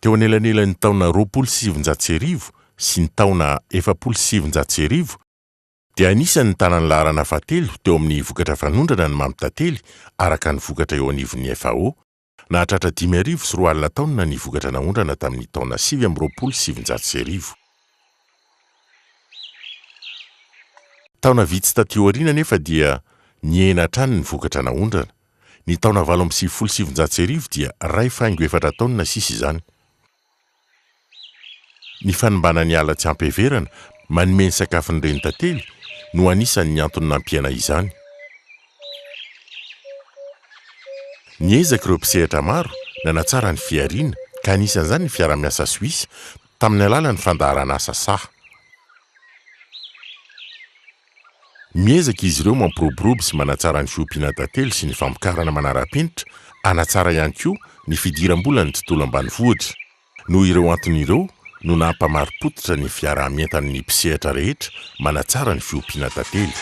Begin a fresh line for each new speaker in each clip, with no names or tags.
Teo anelanelan'ny taona roapolo sy sivinjato sy arivo sy ny taona efapolo sy sivinjato sy arivo dia anisan'ny nitana ny laharana fahatelo teo amin'ny vokatra fanondrana ny mamy tantely araka ny vokatra eo anivon'ny FAO, nahatratra dimy arivo sy roa alina taonina ny vokatra naondrana tamin'ny taona sivy amby roapolo sy sivinjato sy arivo. Taona vitsy taty aoriana anefa dia nihena hatrany ny vokatra naondrana. Ny taona valo amby sivifolo sy sivinjato sy arivo dia iray faingo efatra taonina sisa izany. Ny fanimbana ny ala tsy ampiheverana manome ny sakafon'ny renitantely no anisan'ny antony nampiana izany. Niezaka ireo mpisehatra maro nanatsara ny fihariana, ka anisan'izany ny fiaraha-miasa Soisa, tamin'ny alalan'ny fandaharan'asa saha. Miezaka izy ireo mampiroborobo sy manatsara ny fiompiana tantely sy ny famokarana manara-penitra, hanatsara ihany koa ny fidiram-bolan'ny tontolo ambanivohitra. Noho ireo antony ireo no nampamari-pototra ny fiaraha-mientan'ny mpisehatra rehetra manatsara ny fiompiana tantely.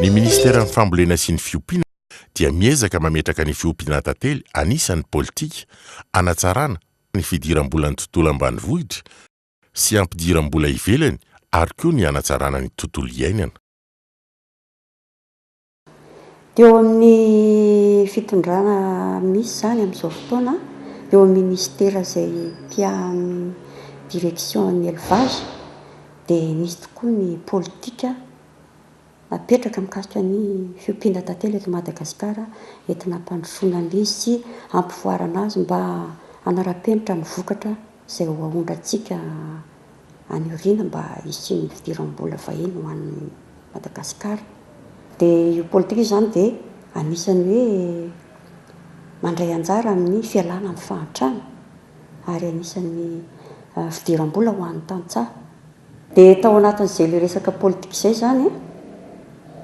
Ny Ministeran'ny Fambolena sy ny Fiompiana dia miezaka mametraka ny fiompiana tantely anisan'ny politika hanatsarana ny fidiram-bolan'ny tontolo ambanivohitra sy hampidiram-bola ivelany ary koa ny hanatsarana ny tontolo iainana.
Teo amin'ny fitondrana misy izany amin'izao fotoana eo amin'ny ministera izay mpiahy direction an'ny elevage dia nisy tokoa ny politika napetraka mikasika ny fiompiana tantely eto Madagasikara entina hampandrosoana an'izy sy hampivoarana azy mba hanara-penitra ny vokatra izay ho aondrantsika. any aoriana mba hisian'ny fidiram-bola vahiny ho an'i Madagasikara. Dia io politika io izany dia anisan'ny hoe mandray anjara amin'ny fialana amin'ny fahantrana ary anisan'ny fidiram-bola ho an'ny tantsaha. Dia tao anatin'izay ilay resaka politika izay izany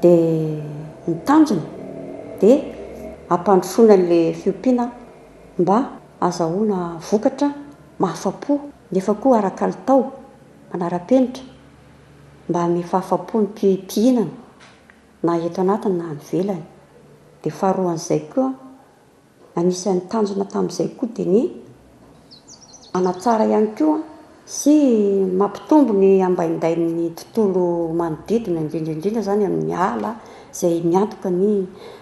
dia ny tanjona dia hampandrosoana an'ilay fiompiana mba hahazahoana vokatra mahafa-po. nefa koa ara-kalitao, manara-penitra, mba hanome fahafa-po ny mpihinana na eto anatiny na any ivelany. Dia faharoan'izay koa, anisan'ny tanjona tamin'izay koa dia ny hanatsara ihany koa sy mampitombo ny ambaindain'ny tontolo manodidina, indrindra indrindra izany amin'ny ala izay miantoka ny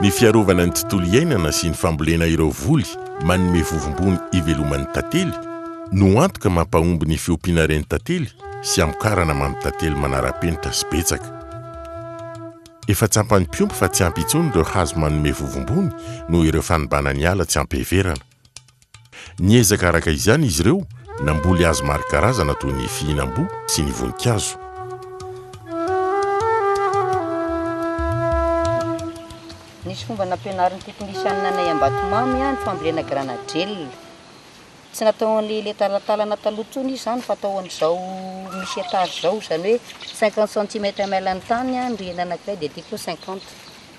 Ny fiarovana ny tontolo iainana sy ny fambolena ireo voly manome vovombony iveloman'ny tantely no antoka mampahomby ny fiompiana reny tantely sy hamokarana mamy tantely manara-penitra sy betsaka. Efa tsampan'ny mpiompy fa tsy ampy intsony ireo hazo manome vovombony noho ireo fanimbana ny ala tsy ampiheverana. Niezaka araka izany izy ireo namboly hazo maro karazana toy ny fihinam-boa sy ny voninkazo.
Nisy fomba nampianarin'ny teknisianina anay Ambatomamy ny fambolena granadrel. Tsy natao an'ilay ilay talantalana taloha intsony izy izany fa atao an'izao misy etage izao, izany hoe cinquante centimètre ml ny tany, ny rihana anankiray dia aty koa cinquante.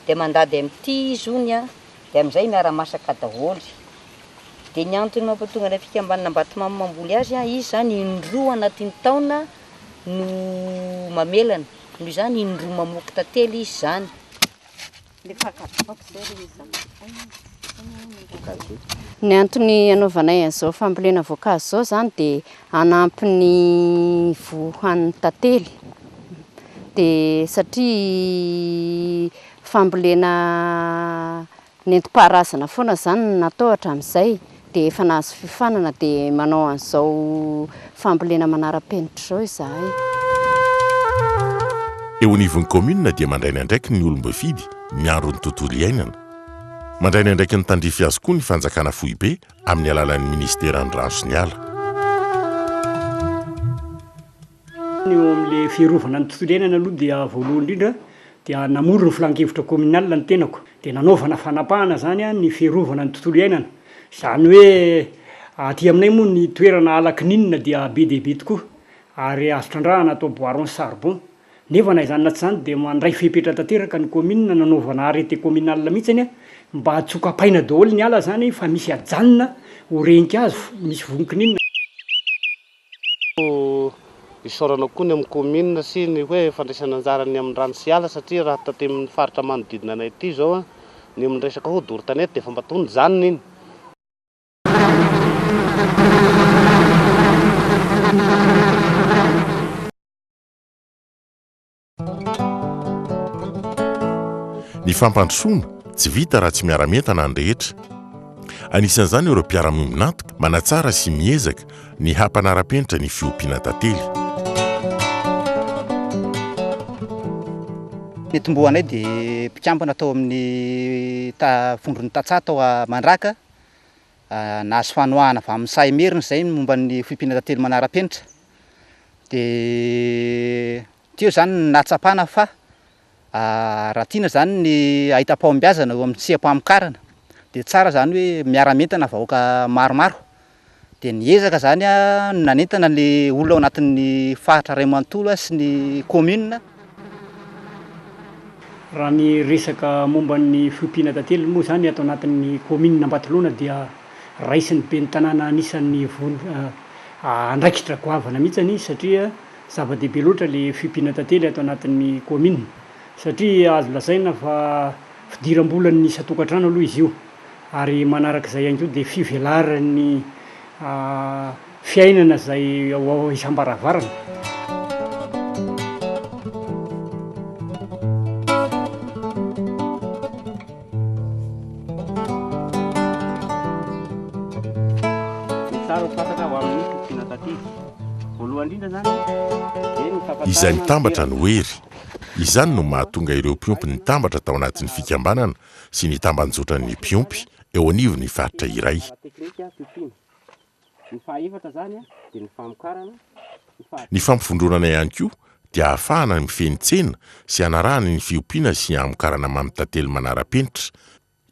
Dia mandady amin'ity izy hono an. Dia amin'izay miara-masaka daholo. Dia ny antony mampatonga ny fikambanana Ambatomamo mamboly azy, izy izany indroa anatin'ny taona no mamelana, noho izany indroa mamoky tantely izy izany.
Ny antony anaovanay an'izao fambolena voankazo izao izany dia hanampy ny voa hohanin'ny tantely. Dia satria Fambolena nentim-paharazana foana izany no natao hatramin'izay dia efa nahazo fiofanana dia manao an'izao fambolena manara-penitra izao izahay.
Eo anivon'ny kaominina dia mandray ny andraikiny ny olom-boafidy miandry ny tontolo iainana. Mandray ny andraikiny tandrify azy koa ny fanjakana foibe amin'ny alalan'ny minisiteran'ny rano sy ny ala.
Ny eo amin'ilay fiarovana ny tontolo iainana aloha dia voalohany indrindra dia namory ny filankevitra communal ny tenako dia nanaovana fanapahana izany ny fiarovana ny tontolo iainana. Izany hoe aty aminay moa ny toerana ala kininina dia be dia be tokoa ary azo trandrahana atao boiron sy charbon. Nefa na izany na tsy izany dia mandray fepetra tanteraka ny commune nanaovana arrete communal mihitsy mba tsy ho kapaina daholo ny ala izany fa misy ajanona ho renikazo misy vonon-kininina.
Isaorana koa ny amin'ny kaominina sy ny hoe fandraisana anjara ny amin'ny rano sy ala satria raha taty amin'ny faritra manodidina anay aty izao ny amin'ny resaka hoe doro tanety dia efa mba toa nijanona iny.
Ny fampandrosoana, tsy vita raha tsy miara-mientana ny rehetra. Anisan'izany ireo mpiara-miombon'antoka, manatsara sy miezaka ny hampanara-penitra ny fiompiana tantely.
Nitomboanay dia mpikambana tao amin'ny vondron'ny tantsaha tao Mandraka Nahazo fanohana avy amin'ny sahy merina izay ny momba ny foibina tantely manara-penitra. Dia teo izany ny nahatsapana fa raha tiana izany ny hahita fahombiazana eo amin'ny tsia-pamokarana dia tsara izany hoe miara-mientana vahoaka maromaro. Dia ny ezaka izany no nanentana ny olona ao anatin'ny faritra iray manontolo sy ny kaominina.
Raha ny resaka momba ny fiompiana tantely moa izany ato anatin'ny kaominina Ambatolaona dia raisin'ny ben'ny tanàna anisan'ny andraikitra goavana mihitsy anie izy satria zava-dehibe loatra ilay fiompiana tantely ato anatin'ny kaominina satria azo lazaina fa fidiram-bolan'ny isan-tokantrano aloha izy io ary manarak'izay ihany koa dia fivelaran'ny Fiainana izay ao isam-baravarana.
Izay mitambatra no hery. Izany no mahatonga ireo mpiompy nitambatra tao anatin'ny fikambanana sy ny tambanjotran'ny mpiompy eo anivon'ny faritra iray. Ny fahaefatra izany dia ny famokarana, ny fahavitan'ny. Ny fampivondronana ihany koa dia ahafahana mifehy ny tsena sy hanarahana ny fiompiana sy hamokarana mamy tantely manara-penitra.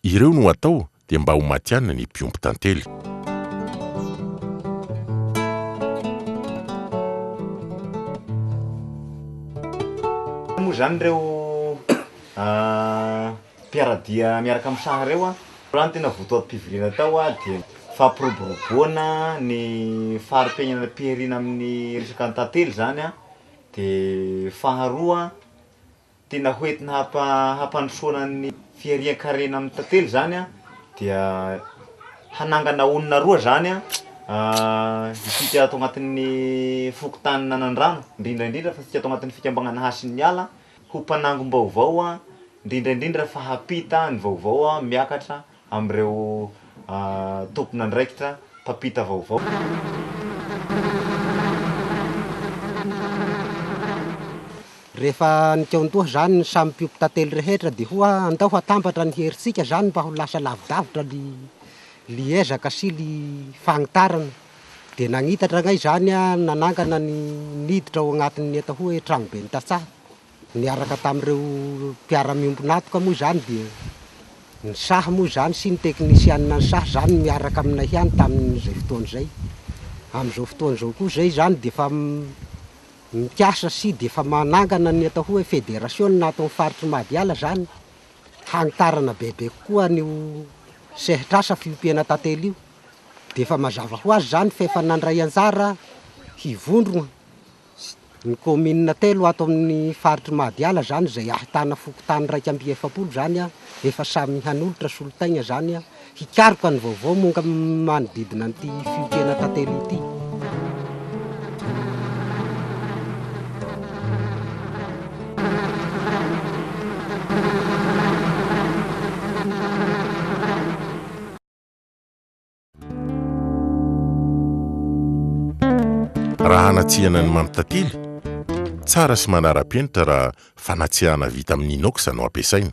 Ireo no atao dia mba ho matihanina ny mpiompy tantely.
Moa izany ireo. Mpiara-dia miaraka amin'ny saha ireo an! Raha ny tena votoatim-pivoriana tao an, dia ny fampiroboroboana ny fari-piainana am-pihariana amin'ny resaka ny tantely izany an, dia faharoa an, tena hoentina hampa- hampandrosoana ny fiharian-karena amin'ny tantely izany an, dia hanangana olona roa izany an, isika ato anatin'ny fokontany Nanandrano, indrindra indrindra fa isika ato anatin'ny fikambanana Hasin'ny Ala, ho mpanangom-baovao aho, indrindra indrindra fa hampita ny vaovao aho miakatra amin'ireo tompon'andraikitra mpampita vaovao.
Rehefa nikaon-doha izany ny samy mpiompy tantely rehetra dia ho'a andao hatambatra ny herintsika izany mba ho lasa lavidavitra ny ezaka sy ny fagnitarana. Dia nagnitatra anay izany aho nanangana ny niditra ao anatin'ny enta hoe tranoben'ny tantsaha. Niaraka tamin'ireo mpiara-miombon'antoka moa izany dia ny saha moa izany sy ny teknisianina ny saha izany no miaraka aminay ihany tamin'izay fotoana izay. Amin'izao fotoana izao koa izay izany dia efa mikasa sy dia efa manangana ny atao hoe federasiona ato amin'ny faritry Mahadiala izany, hanitarana bebe kokoa an'io sehatr'asa fiompiana tantely io. Dia efa mazava ho azy izany fa efa nandray anjara hivondrona ny kaominina telo ato amin'ny faritr'i Mahadiala izany, izay ahitana fokontany iraika amby efapolo izany, efa samy hanolotra solotaigna izany hikaroka ny vaovao momba ny manodidina an'ity fiompiana tantely ity.
Raha hanatsihana ny mampitantily, tsara sy manara-penitra raha fanatsihana vita amin'ny inox no ampiasaina.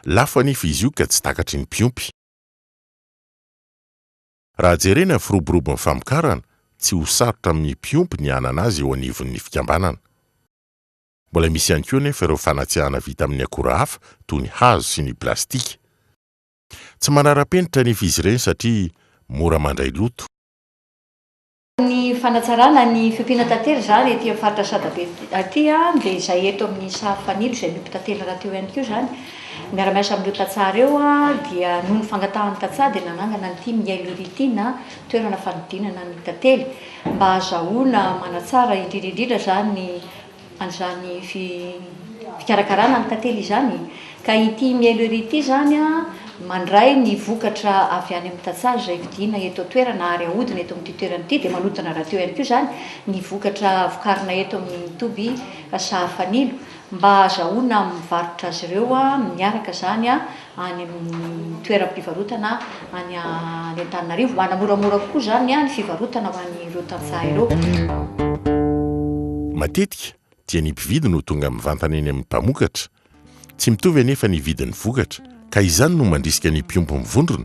Lafo anefa izy io ka tsy takatry ny mpiompy. Raha jerena ny firoborobon'ny famokarana, tsy ho sarotra amin'ny mpiompy ny hanana azy eo anivon'ny fikambanana. Mbola misy ihany koa anefa ireo fanatsihana vita amin'ny akora hafa toy ny hazo sy ny plastika. Tsy manara-penitra anefa izy ireny satria mora mandray loto.
Ny fanatsarana ny fiompiana tantely izany ety amin'ny faritra Sadabe aty dia izay eto amin'ny sary fanilo izay miompy tantely rahateo ihany koa izany. Miara-miasa amin'ireo tantsaha ireo dia noho ny fangatahan'ny tantsaha dia nanangana an'ity miailolo ity na toerana fanodinana ny tantely mba hahazahoana manatsara indrindra indrindra izany ny an'izany fikarakarana ny tantely izany ka ity mielo ery ity izany mandray ny vokatra avy any amin'ny tantsaha izay vidiana eto an-toerana ary ahodina eto amin'ity toerana ity dia manodina rahateo ihany koa izany ny vokatra vokarina eto amin'ny toby sahafanilo mba hahazahoana mivarotra azy ireo miaraka izany any amin'ny toeram-pivarotana any any Antananarivo mba hanamoramora kokoa izany ny fivarotana ho an'ireo tantsaha ireo.
Matetika dia ny mpividy no tonga mivantana eny amin'ny mpamokatra. Tsy mitovy anefa ny vidin'ny vokatra ka izany no mandrisika ny mpiompy mivondrona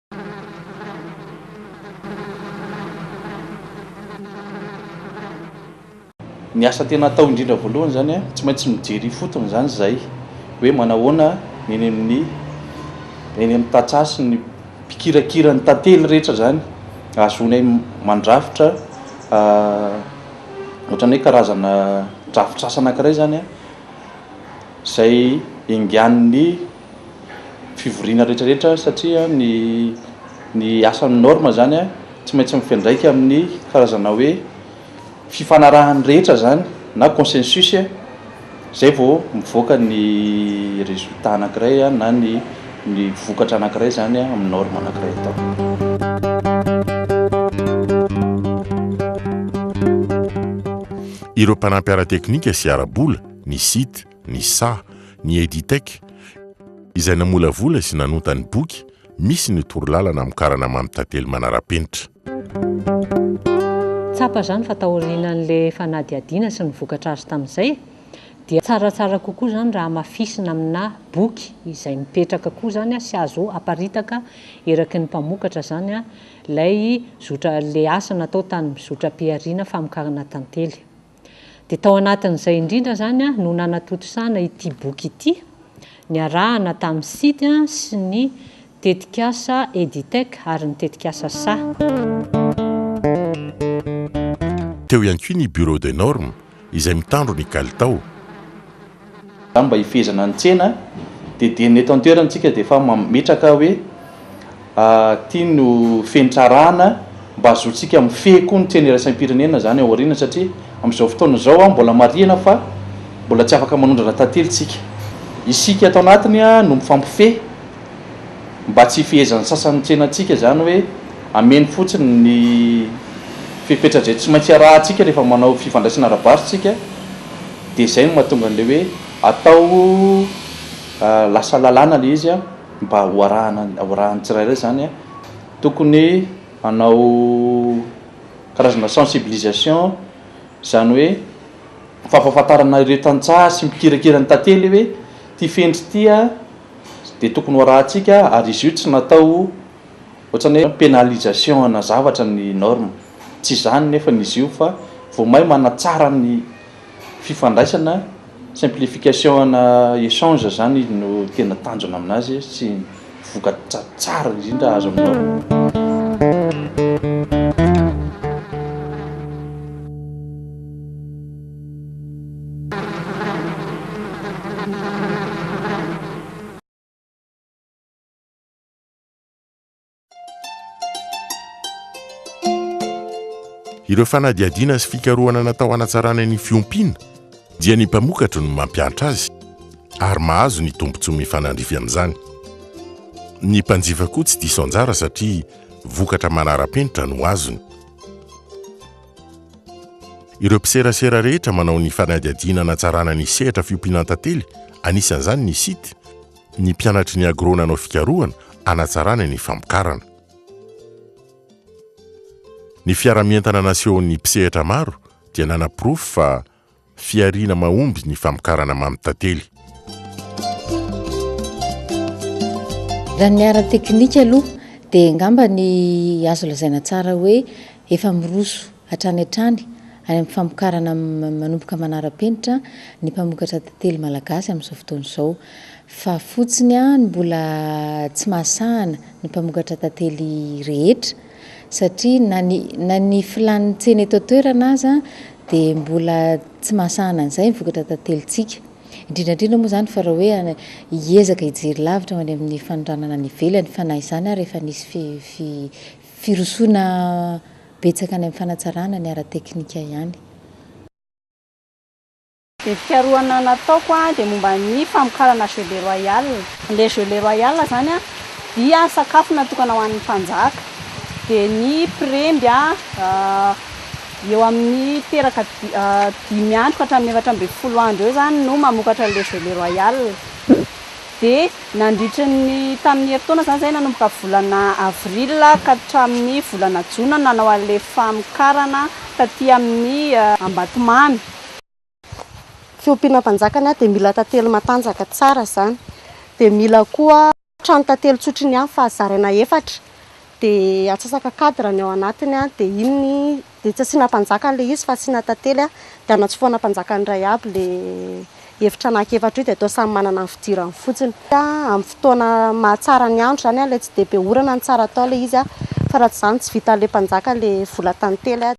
Ny asa tena atao indrindra voalohany izany an, tsy maintsy mijery ifotony izany izay hoe manahoana ny eny amin'ny eny amin'ny tantsaha sy ny mpikirakira ny tantely rehetra izany ahazoanay mandrafitra ohatran'ny hoe karazana drafitr'asa anankiray izany an, izay enganin'ny. fivoriana rehetrarehetra satria ny ny asan'ny norme zany tsy maintsy mifandraika amin'ny karazana hoe fifanarahan'ny rehetra zany na consensus zay vao mivoaka ny résultat anankiray na ny ny vokatra anankiray zany amin'ny norme
anankiray atao. ny sa, ny Editech, izay namolavola sy nanonta ny boky misy ny torolalana amin'ny karana Mamy Tantely manara-penitra.
Tsapa izany fa taorian'ilay fanadihadiana sy ny vokatra azo tamin'izay dia tsaratsara kokoa izany raha hamafisina aminà boky izay mipetraka koa izany sy azo aparitaka eraky ny mpamokatra izany ilay zotra, ilay asa natao tany zotra-pihariana famokarana tantely. Dia tao anatin'izay indrindra izany no nanatontosana ity boky ity, niarahana tamin'ny Sidy sy ny tetikasa Editec ary ny tetikasa saha.
Teo ihany koa ny Bureau des normes izay mitandro ny kalitao.
Izany mba hifehezana ny tsena dia dia ny eto an-toerana isika dia efa mametraka hoe ity no fenitra arahana mba hazoantsika mifehy koa ny tsena iraisam-pirenena izany ao aoriana satria amin'izao fotoana izao mbola marihina fa mbola tsy afaka manondrana tantely isika. Isika ato anatiny no mifampifehy mba tsy hifehezan'ny sasany ny tsenantsika izany hoe hameno fotsiny ny fepetra izay tsy maintsy arahantsika rehefa manao fifandraisana ara-barotra isika. Dia izay no mahatonga an'ilay hoe atao lasa lalàna ilay izy mba ho arahana ho arahan'ny tsirairay izany. Tokony hanao karazana sensibilisation, izany hoe fampahafantarana ireo tantsaha sy mpikirakira ny tantely hoe ity fenitra ity dia tokony ho arahantsika ary izy io tsy natao ho. Ohatrany hoe pénalisation ana zavatra ny norme. Tsy izany nefany izy io fa vao may manatsara ny fifandraisana, simplification ana échange zany no tena tanjona aminazy sy vokatra tsara indrindra azo amin'ny norme.
Ireo fanadihadiana sy fikarohana natao hanatsarana ny fiompiana dia ny mpamokatra no mampiantra azy ary mahazo ny tombontsoa mifanandrify amin'izany. Ny mpanjifa koa tsy diso anjara satria vokatra manara-penitra no azony. Ireo mpiserasera rehetra manao ny fanadihadiana hanatsarana ny sehatra fiompiana an-tantely, anisan'izany ny site, ny mpianatry ny agro nanao fikarohana hanatsarana ny famokarana. Ny fiara-mientana nasehon'ny mpisehatra maro dia nanaporofo fa fihariana mahomby ny famokarana mamy tantely.
Raha ny ara-teknika aloha dia angamba ny azo lazaina tsara hoe efa miroso Hatrany hatrany, any amin'ny famokarana manomboka manara-penitra ny mpamokatra tantely malagasy amin'izao fotoana izao. Fa fotsiny ny mbola tsy mahasahana ny mpamokatra tantely rehetra, satria na ny na ny filàn'ny tsena eto an-toerana aza dia mbola tsy mahasahana an'izay ny vokatra tantelintsika. Indrindra indrindra moa izany fa raha hoe hiezaka hijery lavitra ho any amin'ny fanondranana any ivelany, fa na izany ary efa nisy fi- fi- firosoana Betsaka any amin'ny fanatsarana ny ara-teknika ihany.
Ny fikarohana nataoko dia momba ny famokarana jeu de royale. Ilay jeu le royale izany dia sakafo natokana ho an'ny mpanjaka. Dia ny mpiremby eo amin'ny teraka dimy andro ka hatramin'ny efatra ambin'ny folo andro eo izany no mamokatra ilay jeu le royale. Dia nandritry ny tamin'ny herintaona izany izay nanomboka volana avril ka hatramin'ny volana jona no nanao an'ilay famokarana taty amin'ny Ambatomamy.
Fiompiana mpanjakana dia mila tantely matanjaka tsara izany dia mila koa trano tantely tsotra iny ihany fa zaraina efatra dia atsasaka cadre ny ao anatiny dia iny Dia tsy asiana mpanjaka an'ilay izy fa asiana tantely a, dia anatsofohana mpanjaka ny iray aby ilay efitra anankiefatra io dia atao samy manana ny fidirany fotsiny. Amin'ny fotoana mahatsara ny andro izany a, ilay tsy dia be orana no tsara atao ilay izy a, fa raha tsy izany tsy vitan'ilay mpanjaka ilay vola tantely a.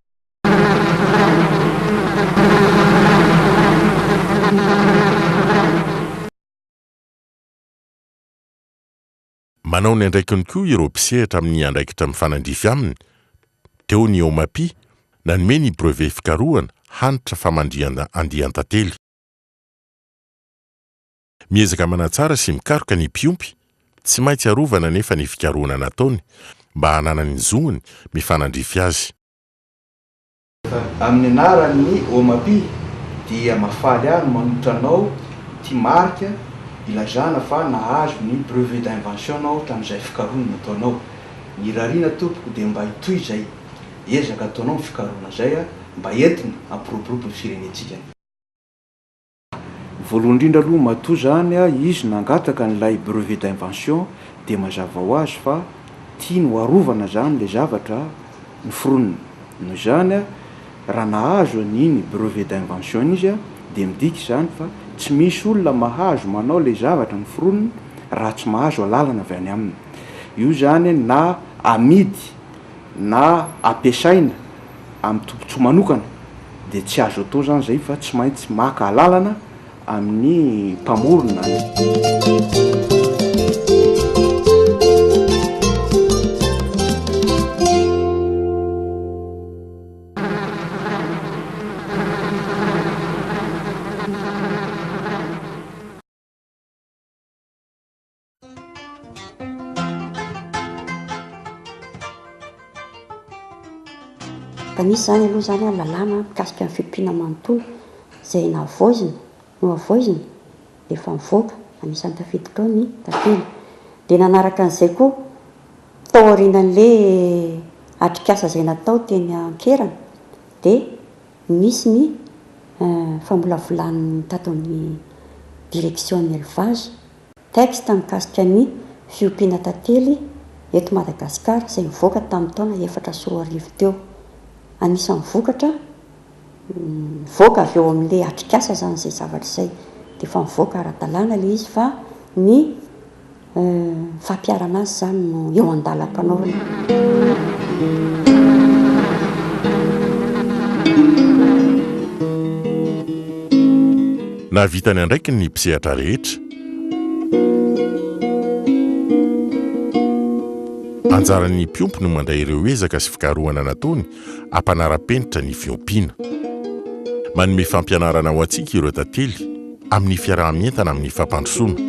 Manao ny andraikiny koa ireo mpisehatra amin'ny andraikitra mifanandrify aminy, teo ny OMAPI, nanome ny brevet fikarohana hanitra famandrihana andian-tantely. Miezaka manatsara sy mikaroka ny mpiompy, tsy maintsy arovana anefa ny fikarohana nataony mba hananany ny zony mifanandrify azy.
Amin'ny anaran'ny Omapi dia mahafaly ahy ny manolotra anao ity marika ilazana fa nahazo ny brevet d'invention-nao tamin'izay fikarohana nataonao. Nirariana tompoko dia mba hitohy izay ezaka ataonao amin'ny fikarohana izay mba entina hampiroborobo ny firenentsika. Voalohany indrindra aloha matoa izany izy nangataka an'ilay brevet d'invention dia mazava ho azy fa tiany ho arovana izany ilay zavatra noforoniny. Noho izany, raha nahazo an'iny brevet d'invention iny izy dia midika izany fa tsy misy olona mahazo manao ilay zavatra noforoniny raha tsy mahazo alalana avy any aminy. Io izany na amidy na ampiasaina amin'ny tombontsoa manokana dia tsy azo atao izany izay fa tsy maintsy maka alalana amin'ny mpamorona.
Mba nisy izany aloha izany an, lalàna mikasika ny fiompiana manontolo izay nahavoizina, nohavoizina, dia efa nivoaka, anisan'ny tafiditra ao ny tantely. Dia nanaraka an'izay koa, tao aorianan'ilay atrikasa izay natao teny an-kerana, dia nisy ny famolavolan'ny tato amin'ny direction ny élevage, Texte mikasika ny fiompiana tantely eto Madagasikara izay nivoaka tamin'ny taona efatra sy roa arivo teo. Anisan'ny vokatra mivoaka avy eo amin'ilay atrikasa izany izay zavatra izay. Dia efa mivoaka ara-dalàna ilay izy fa ny fampiharana azy izany no eo an-dalam-panaovana.
Nahavita ny andraikiny ny mpisehatra rehetra. Anjaran'ny mpiompy no mandray ireo ezaka sy fikarohana nataony hampanara-penitra ny fiompiana. Manome fampianarana ho antsika ireo tantely amin'ny fiaraha-mientana amin'ny fampandrosoana.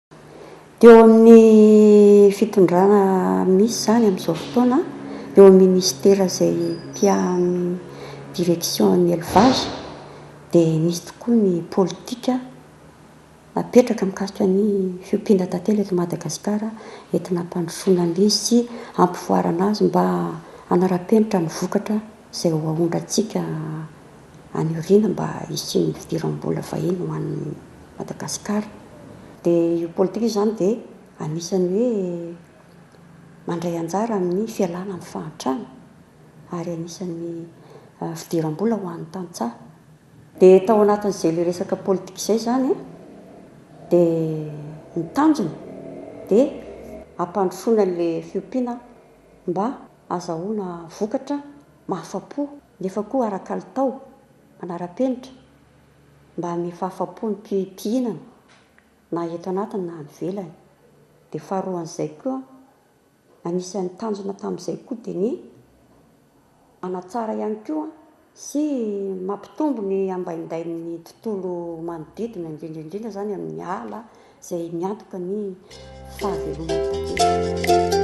Teo amin'ny fitondrana misy izany amin'izao fotoana eo amin'ny ministera izay mpiahy direction an'ny Elevage dia nisy tokoa ny politika napetraka mikasika ny fiompiana tantely eto Madagasikara entina hampandrosoana an'ilay izy sy hampivoarana azy mba hanara-penitra ny vokatra izay ho aondrantsika any aoriana mba hisian'ny fidiram-bola vahiny ho an'i Madagasikara. Dia io politika io izany dia anisan'ny hoe mandray anjara amin'ny fialana amin'ny fahantrana ary anisan'ny fidiram-bola ho an'ny tantsaha. Dia tao anatin'izay ilay resaka politika izay izany dia ny tanjona dia hampandrosoana an'ilay fiompiana mba. azahoana vokatra mahafa-po nefa koa ara-kalitao, manara-penitra, mba hanome fahafa-po ny mpihinana na eto anatiny na any ivelany. Dia faharoan'izay koa, anisan'ny tanjona tamin'izay koa dia ny hanatsara ihany koa. sy mampitombo ny ambaindain'ny tontolo manodidina, indrindra indrindra izany amin'ny ala izay miantoka ny fahavelomana.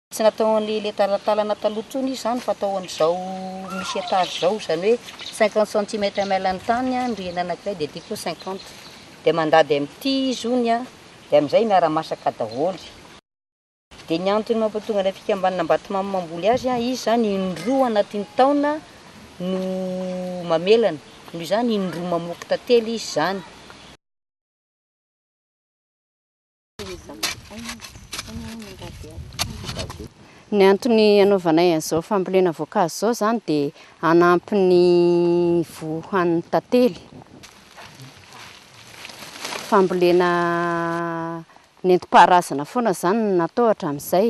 Tsy natao ho an'ilay ilay talantalana taloha intsony izy izany fa atao ho an'izao misy étage izao, izany hoe cinquante centimètres ml ny tany an, ny rihana anankiray dia ity koa cinquante, dia mandady amin'ity izy hono an, dia amin'izay miara-masaka daholo. Dia ny antony mampatonga ilay fikambanana Ambatomamo mamboly azy an, izy izany in-droa anatin'ny taona no mamelana, noho izany in-droa mamoky tantely izy izany.
Ny antony anaovanay an'izao fambolena voankazo izao izany dia hanampy ny voa hohanin'ny tantely. Fambolena nentim-paharazana foana izany no natao hatramin'izay.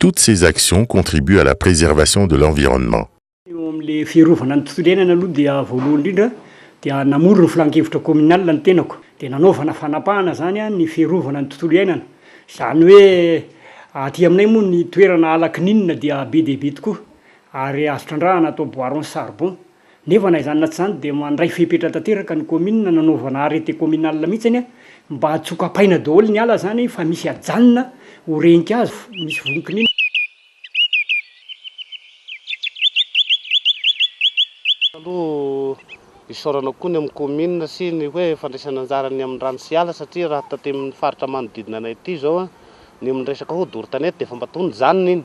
Toutes ces actions contribuent à la préservation de l'environnement. Eo amin'ilay
fiarovana ny tontolo iainana aloha dia voalohany indrindra dia namory ny filankevitra communal ny tenako dia nanaovana fanapahana izany ny fiarovana ny tontolo iainana. Izany hoe aty aminay moa ny toerana ala kininina dia be dia be tokoa ary azo trandrahana atao boiron charbon Nefa na izany na tsy izany dia mandray fepetra tanteraka ny kaominina nanaovana arrêté communal mihitsy anie mba hatsokapaina daholo ny ala izany fa misy ajanona ho rehin-kazo misy vonkinina.
Aloha isaorana koa ny amin'ny kaominina sy ny hoe fandraisana anjara ny amin'ny rano sy ala satria raha taty amin'ny faritra manodidina anay ity izao ny amin'ny resaka hoe doro tanety dia efa mba tony zanona iny.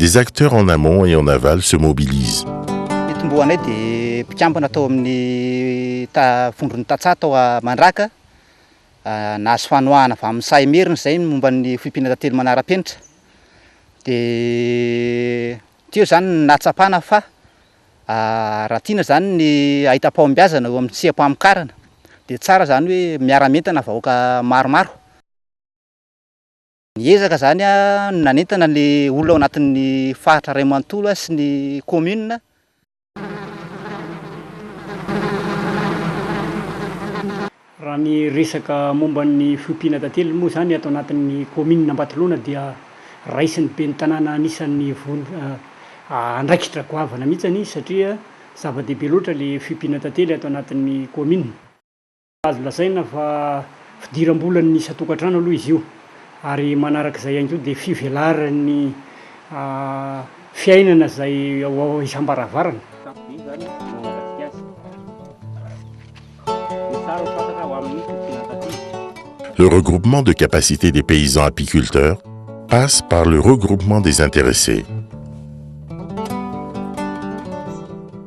Des acteurs en amont et en aval se mobilisent. Ny tombohanay
dia mpikambana tao amin'ny ta vondron'ny tantsaha tao Mandraka. Nahazo fanohana avy amin'ny saha Imerina izay ny momba ny foibina tantely manara-penitra. Dia teo izany no nahatsapana fa raha tiana izany ny hahita pahombiazana eo amin'ny tsia-pamokarana dia tsara izany hoe miara-mientana vahoaka maromaro. Ny ezaka izany no nanentana ny olona ao anatin'ny faritra iray manontolo sy ny kaominina,
Raha ny resaka momba ny fiompiana tantely moa izany ato anatin'ny kaominina Ambatolaona dia raisin'ny ben'ny tanàna anisan'ny andraikitra goavana mihitsy satria zava-dehibe loatra ilay fiompiana tantely ato anatin'ny kaominina. Azo lazaina fa fidiram-bolan'ny isan-tokantrano aloha izy io ary manaraka izay ihany koa dia fivelaran'ny fiainana izay ao isam-baravarana. Kanto be izany no mangatsiaka azy. Ny tsara ho fantatra ho amin'ny fitsinantatila.
Le regroupement de capacité des paysans apiculteurs passe par le regroupement des intéressés.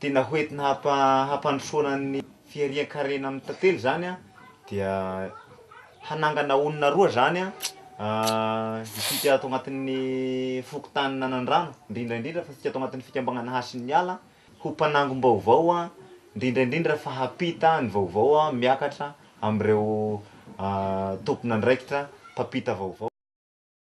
Tena hoentina hampa- hampandrosoana ny fiharian-karena amin'ny tantely zany a dia hanangana olona roa zany a isika ato agnatin'ny fokontany Nanandrano indrindra indrindra fa isika ato agnatin'ny fikambanana Hasin'ny Ala ho mpanangom-baovao a indrindra indrindra fa hampita ny vaovao a miakatra amin'ireo tompon'andraikitra mpampita vaovao.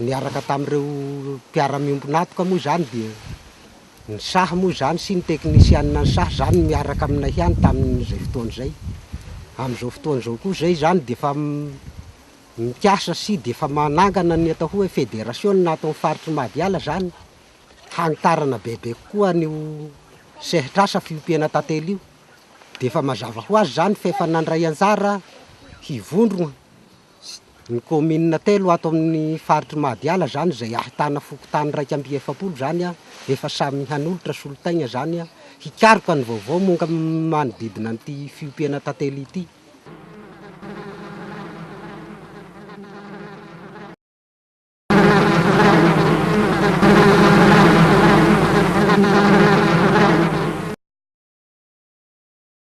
Niaraka tamin'ireo mpiara-miombon'antoka moa izany dia ny saha moa izany sy ny teknisianina ny saha izany no miaraka aminay ihany tamin'izay fotoana izay. Amin'izao fotoana izao koa izay izany dia efa mikasa sy dia efa manangana ny atao hoe federasiona ato amin'ny faritr'i Mahadiala izany hanitarana bebe kokoa an'io sehatr'asa fiompiana tantely io. Dia efa mazava ho azy izany fa efa nandray anjara hivondrona. Ny kaominina telo ato amin'ny faritr'i Mahadiala izany izay ahitana fokontany iraika amby efapolo izany efa samy hanolotra solotaigna izany hikaroka ny vaovao momba ny manodidina an'ity fiompiana tantely ity.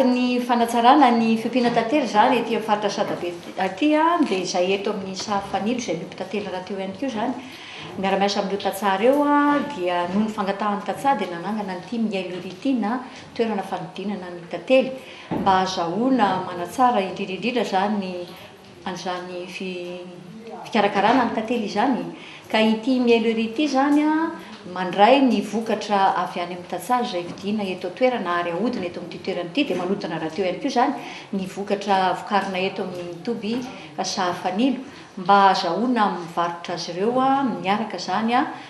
Anatin'ny
fanatsarana ny fiompiana tantely izany ety amin'ny faritra Sadabe aty dia izay eto amin'ny saha fanilo izay miompy tantely rahateo ihany koa izany. Miara-miasa amin'ireo tantsaha ireo dia noho ny fangatahan'ny tantsaha dia nanangana an'ity Miailo Iry ity na toerana fanodinana ny tantely mba hahazahoana manatsara indrindra indrindra izany ny an'izany fikarakarana ny tantely izany, ka ity mielo ery ity izany mandray ny vokatra avy any amin'ny tantsaha izay vidiana eto an-toerana ary ahodina eto amin'ity toerana ity, dia manodina rahateo ihany koa izany ny vokatra vokarina eto amin'ny toby sahafanilo mba hahazahoana mivarotra azy ireo miaraka izany.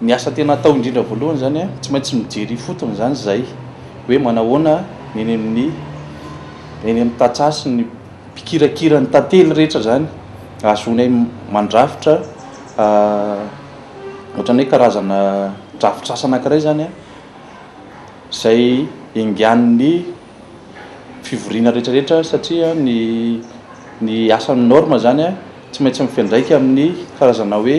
Ny asa tena atao indrindra voalohany izany an, tsy maintsy mijery ifotony izany izay hoe manahoana ny eny amin'ny eny amin'ny tantsaha sy ny mpikirakira ny tantely rehetra izany ahazoanay mandrafitra ohatran'ny hoe karazana drafitr'asa anankiray izany an, izay enganin'ny fivoriana rehetrarehetra satria ny ny asan'ny Norma izany an tsy maintsy mifandraika amin'ny karazana hoe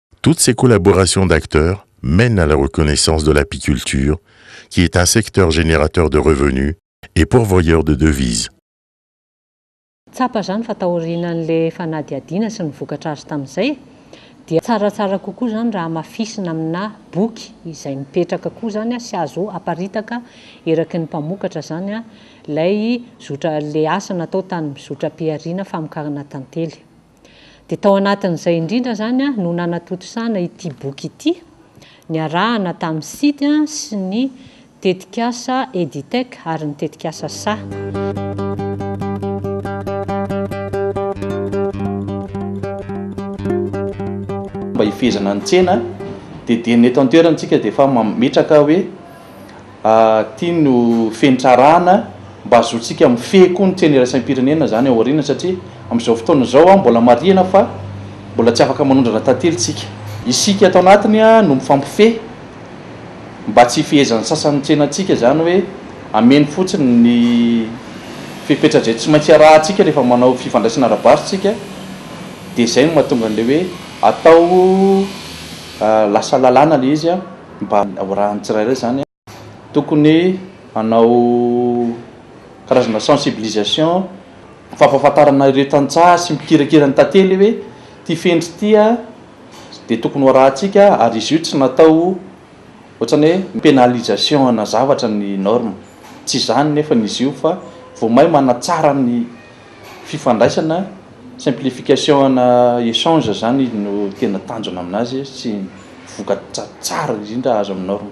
Toutes ces collaborations d'acteurs mènent à la reconnaissance de l'apiculture qui est un secteur générateur de revenus et pourvoyeur de devises.
Tsapa izany fa taorian'ilay fanadihadiana sy ny vokatra azo tamin'izay dia tsaratsara kokoa izany raha hamafisina aminà boky izay mipetraka koa izany sy azo aparitaka eraky ny mpamokatra izany ilay zotra ilay asa natao tany zotram-pihariana famokarana tantely. Dia tao anatin'izay indrindra izany no nanatontosana ity boky ity, niarahana tamin'ny Sidy sy ny tetikasa Editec ary ny tetikasa saha.
Mba hifehezana ny tsena dia dieny eto an-toerana isika dia efa mametraka hoe. Ity no fenitra-arahana mba hahazoantsika mifehy koa ny tsena iraisam-pirenena izany ao aoriana satria amin'izao fotoana izao mbola marihina fa mbola tsy afaka manondrana tantely isika. Isika ato anatiny no mifampifehy mba tsy hifehezan'ny sasany ny tsenantsika izany hoe hameno fotsiny ny fepetra izay tsy maintsy arahantsika rehefa manao fifandraisana ara-barotra isika dia izay no mahatonga an'ilay hoe atao lasa lalàna ilay izy. Mba horahan'ny tsirairay izany an! Tokony hanao karazana sensibilisation, fampahafantarana ireo tantsaha sy mpikirakira ny tantely hoe ity fendry ity an dia tokony ho arahantsika ary izy io tsy natao ohatrany hoe mi-penalisation ana zavatra ny norme. Tsy izany nefany izy io fa vao may manatsara ny. Fifandraisana, simplification ana échange zany izy no tena tanjona aminazy sy ny vokatra tsara indrindra azo amin'ny norme.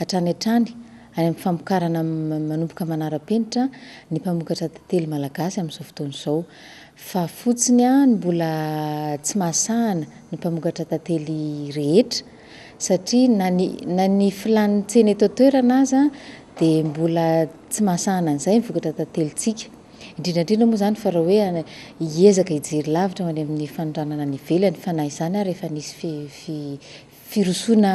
Hatrany hatrany, any amin'ny famokarana manomboka manara-penitra ny mpamokatra tantely malagasy amin'izao fotoana izao. Fa fotsiny ny mbola tsy mahasahana ny mpamokatra tantely rehetra, satria na ny na ny filàn'ny tsena eto an-toerana aza dia mbola tsy mahasahana an'izay ny vokatra tantelintsika. Indrindra indrindra moa izany fa raha hoe hiezaka hijery lavitra ho any amin'ny fanondranana any ivelany, fa na izany ary efa nisy fi- fi- firosoana.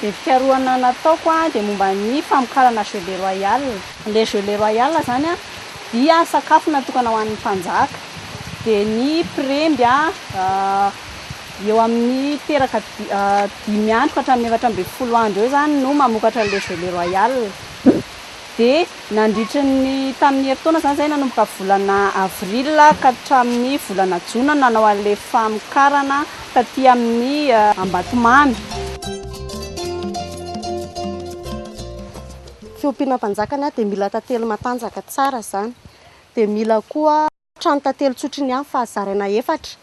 Dia fikarohana nataoko dia momba ny famokarana jeu de royal. Ilay jeu le royal izany dia sakafo natokana ho an'ny mpanjaka. Dia ny mpiremby eo amin'ny teraka dimy andro ka hatramin'ny efatra ambin'ny folo andro eo izany no mamokatra an'ilay jeu le royal. Dia nandritry ny tamin'ny herintaona izany izay nanomboka volana avril ka hatramin'ny volana jona no nanao an'ilay famokarana taty amin'ny Ambatomamy.
Fiompiana mpanjaka dia mila tantely matanjaka tsara izany dia mila koa. Trano tantely tsotry ny any fa zaraina efatra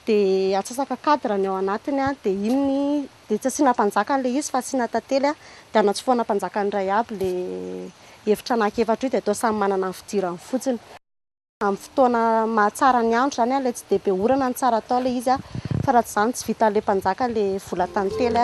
dia atsasaka cadre ny ao anatiny dia iny dia tsy asiana mpanjaka an'ilay izy fa asiana tantely dia anatsofohana mpanjaka ny iray aby ilay efitra anaky efatra io dia atao samy manana ny fidirany fotsiny. Amin'ny fotoana mahatsara ny andro izany ilay tsy dia be orana no tsara atao ilay izy fa raha tsy izany tsy vitan'ilay mpanjaka ilay vola tantely.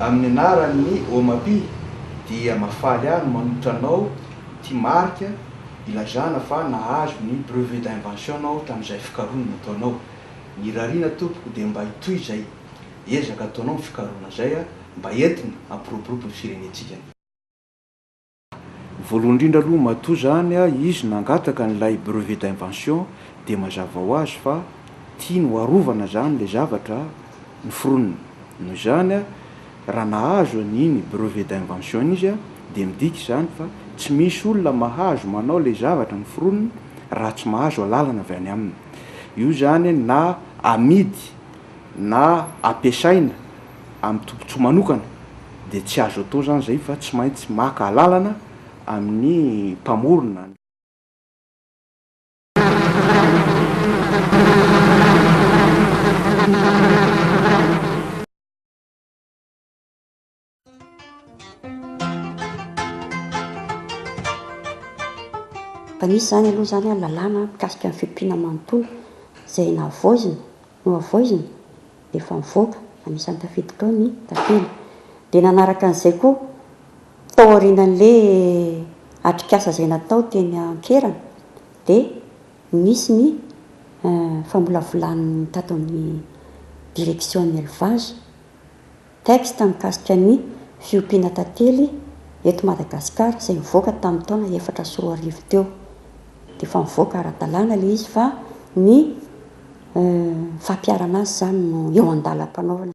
Amin'ny anaran'ny Omapi dia mahafaly ahy ny manolotra anao ity marika ilazana fa nahazo ny brevet d'invention nao tamin'izay fikaroana nataonao. Ny rarina tompoko dia mba hitohy izay ezaka ataonao amin'ny fikaroana izay mba entina hampiroborobo ny firenentsika. Voalohany indrindra aloha matoa zany izy nangataka an'ilay brevet d'invention dia mazava ho azy fa tiany ho arovana zany ilay zavatra noforoniny. Noho izany raha nahazo an'iny brevet d'invention iny izy dia midika izany fa tsy misy olona mahazo manao ilay zavatra noforoniny raha tsy mahazo alalana avy any aminy. Io zany na amidy na ampiasaina. amin'ny tombotsoa manokana dia tsy azo atao izany izay fa tsy maintsy maka alalana amin'ny mpamorona. Efa
nisy izany aloha izany lalàna mikasika ny fiompiana manontolo izay nahavoazina. Nohavoizina, dia efa nivoaka anisan'ny tafiditra ao ny tafiny. Dia nanaraka an'izay koa, tao aorianan'ilay atrikasa izay natao teny an-kerana, dia nisy ny famolavolan'ny tato amin'ny direction ny élevage, Texte mikasika ny fiompiana tantely eto Madagasikara izay nivoaka tamin'ny taona efatra sy roa arivo teo. Dia efa nivoaka ara-dalàna ilay izy fa ny fampiharana azy izany no eo an-dalam-panaovana.